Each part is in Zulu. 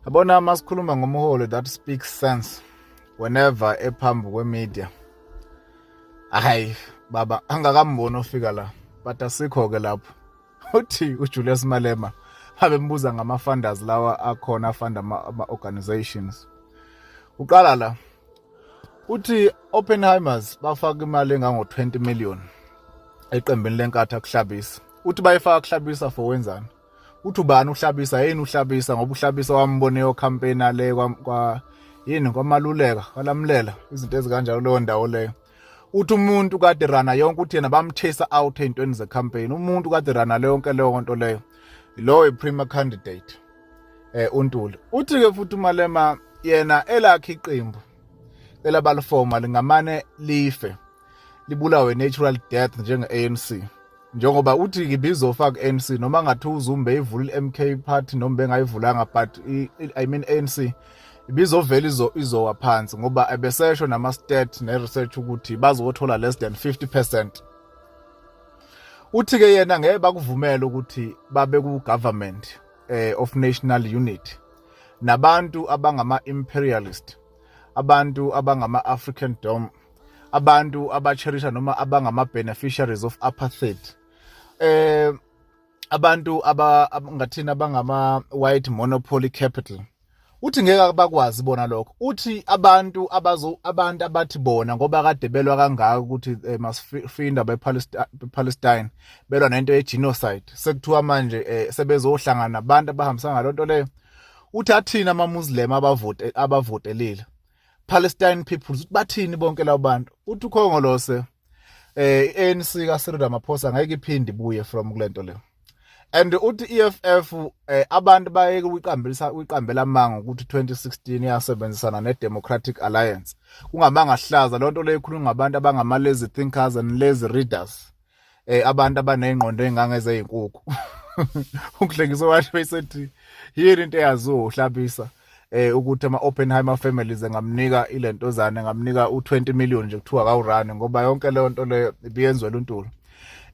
yabona uma sikhuluma ngomholi that speaks sense whenever ephambi kwemedia hayi baba angakamboni ofika la but asikho-ke lapho uthi ujulius malema abembuza ngama-funders lawa akhona afunda ama-organizations uqala la uthi oppenheimers bafaka imali engango-20 million eqembini lenkathi akuhlabisa uthi bayifaka kuhlabisa for wenzani uthi ubani uhlabisa yini uhlabisa ngoba uhlabisa wambone yocampaign ale kwa, kwa yini kwamaluleka kwalamlela izinto ezikanjalo leyo ndawo leyo uthi umuntu kade rana yonke uthi yena bamthesa out ey'ntweni zecampaign umuntu kade rana le yonke leyo nto leyo lowo i-premier candidate eh uNtuli uthi-ke futhi umalema yena elakhe iqembu elabalifoma lingamane life libulawe natural death njenge-anc njengoba uthi ngibizofa ku-anc noma ngathi uzumbe ivulile i-mk party noma bengayivulanga but i mean anc ibizovela izo izowa phansi ngoba ebesesho nama stat ne research ukuthi bazothola less than 50% uthi ke yena ngeke bakuvumela ukuthi babe ku government eh, of national unity nabantu abangama imperialist abantu abangama african dome abantu abacherisha noma abangama beneficiaries of apartheid eh abantu abangathina abangama white monopoly capital uthi ngeke bakwazi bona lokho uthi abantu abazo abantu abathi bona ngoba kade belwa kangaka ukuthi eh, masifinda bePalestine belwa nento yegenocide sekuthiwa manje eh, sebezohlangana nabantu abahambisa ngalonto leyo uthi athina amamuslim abavote abavotelile Palestine peoples bathini bonke labo bantu uthi ukhongolose eh ANC ka Cyril Ramaphosa ngeke iphinde ibuye from kulento le and uthi EFF eh, abantu bayeke uyiqambelisa uyiqambela amanga ukuthi 2016 iyasebenzisana ne Democratic Alliance kungamanga hlaza lonto leyikhuluma ngabantu abangama lazy thinkers and lazy readers eh abantu abanezingqondo engangezeyinkukhu uhlekisa washo esethi yini into eyaziwo uhlabisa eh ukuthi ama Oppenheimer families engamnika ilentozana engamnika u20 million nje kuthiwa kawurani ngoba yonke leyo nto leyo ibiyenzwe luntulo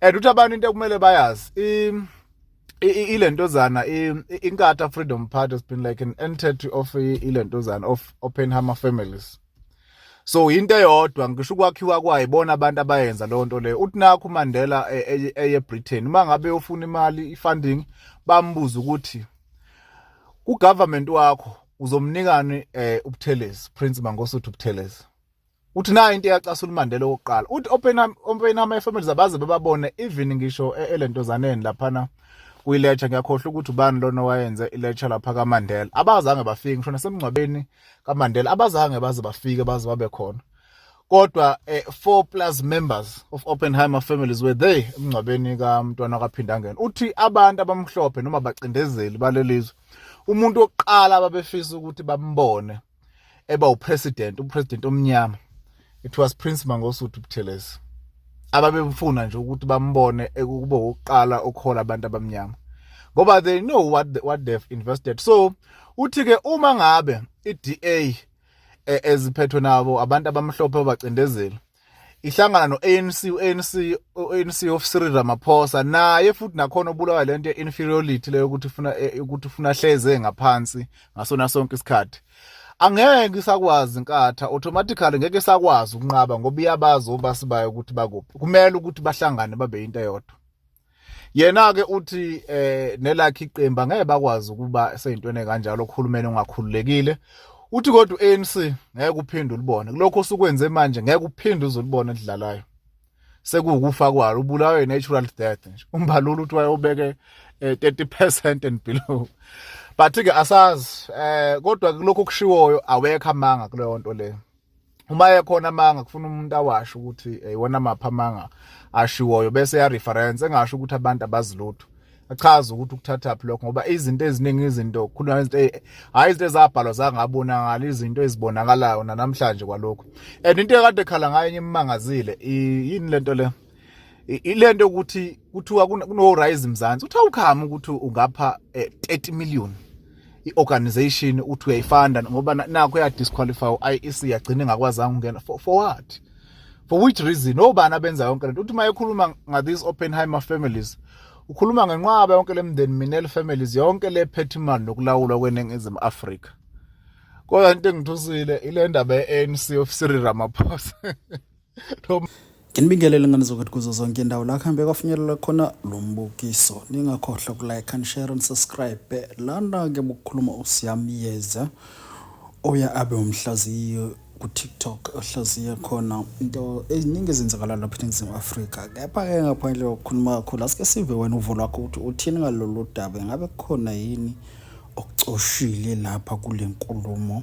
and uthi abantu into ekumele bayazi ilentozana inkatha freedom party has been like an entity of ilentozana of Oppenheimer families so into eyodwa ngisho ukwakhiwa kwayo bona abantu abayenza leyo nto leyo uthi nakho uMandela e, e, eye Britain uma ngabe ufuna imali ifunding bambuza ukuthi ku government wakho uzomnikani eh ubuthelezi Prince Mangosuthu ubuthelezi uthi nayo into eyacasula uMandela okokuqala uthi Oppenheimer Oppenheimer efamily zabaze bebabone even ngisho e, elentozaneni laphana kuyilecture ngiyakhohlwa ukuthi ubani lona wayenze ilecture lapha kaMandela abazange bafike ngisho nasemngcwabeni kaMandela abazange baze bafike baze babe khona kodwa eh, four plus members of Oppenheimer families were there emngcwabeni kamntwana kaPhindangene uthi abantu abamhlophe noma bacindezeli balelizwe umuntu oqala babefisa ukuthi bambone eba upresident upresident omnyama it was Prince Mangosuthu Buthelezi ababemfuna nje ukuthi bambone ekube ukuqala ukuhola abantu abamnyama ngoba they know what the, what they've invested so uthi ke uma ngabe iDA e, eziphethwe nabo abantu abamhlophe abacindezeli ihlangana no-ANC u-ANC u-ANC of Cyril Ramaphosa naye futhi nakhona obulawa lento ye-inferiority leyo ukuthi ufuna e, ukuthi ufuna hleze ngaphansi ngasona sonke isikhathi angeke isakwazi inkatha automatically ngeke isakwazi ukunqaba ngoba iyabazi obasibayo ukuthi bakuphi kumele ukuthi bahlangane babe into eyodwa yena-ke uthi eh nelakhe iqembu angeke bakwazi ukuba seyintweni kanjalo uhulumeni ongakhululekile uthi kodwa u-anc ngeke uphinde ulibone kulokho osukwenze manje ngeke uphinde uzulibone elidlalayo sekuwukufa kwalo ubulawe natural death nje umbalulu uthi wayobeke 30% eh, and below but ke asazi eh kodwa kulokho kushiwoyo awekho amanga kuleyo nto le uma ekhona amanga kufuna umuntu awasho ukuthi eh, iwona mapha amanga ashiwoyo bese ya reference engasho ukuthi abantu abazilutho achaza ukuthi ukuthathaphi lokho ngoba izinto eziningi izinto khuluma izinto e, hayi izinto ezabhalwa zangabonakala izinto ezibonakalayo nanamhlanje kwalokho and into ekade khala ngayo enye imangazile yini lento le ilento ukuthi kuthiwa kuno rise mzansi uthi awukhama ukuthi ungapha 30 eh, million i-organization uthi uyayifanda ngoba nakho ya disqualify i-IEC yagcina ngakwazanga ungena for, for what for which reason obani abenza yonke lento uthi mayekhuluma nga these Oppenheimer families ukhuluma ngenqwaba yonke lemndeni Minel families yonke lephethe imali nokulawulwa kweningizimu Afrika kodwa into engithusile ile ndaba ye-ANC of Cyril Ramaphosa nginibingelele ngane zokuthi kuzo zonke indawo la kuhambe kwafinyelela khona lo mbukiso ningakhohlwa kulike and share and subscribe lana-ke bukukhuluma usiyamyeza oya abe umhlaziyo ku-tiktok ohlaziye khona into eziningi ezenzakalayo lapha eningizimu afrika kepha-ke ngaphandle kokukhuluma kakhulu asike sive wena uvo lwakho ukuthi uthini ngalolu daba ingabe kukhona yini okucoshile lapha kule nkulumo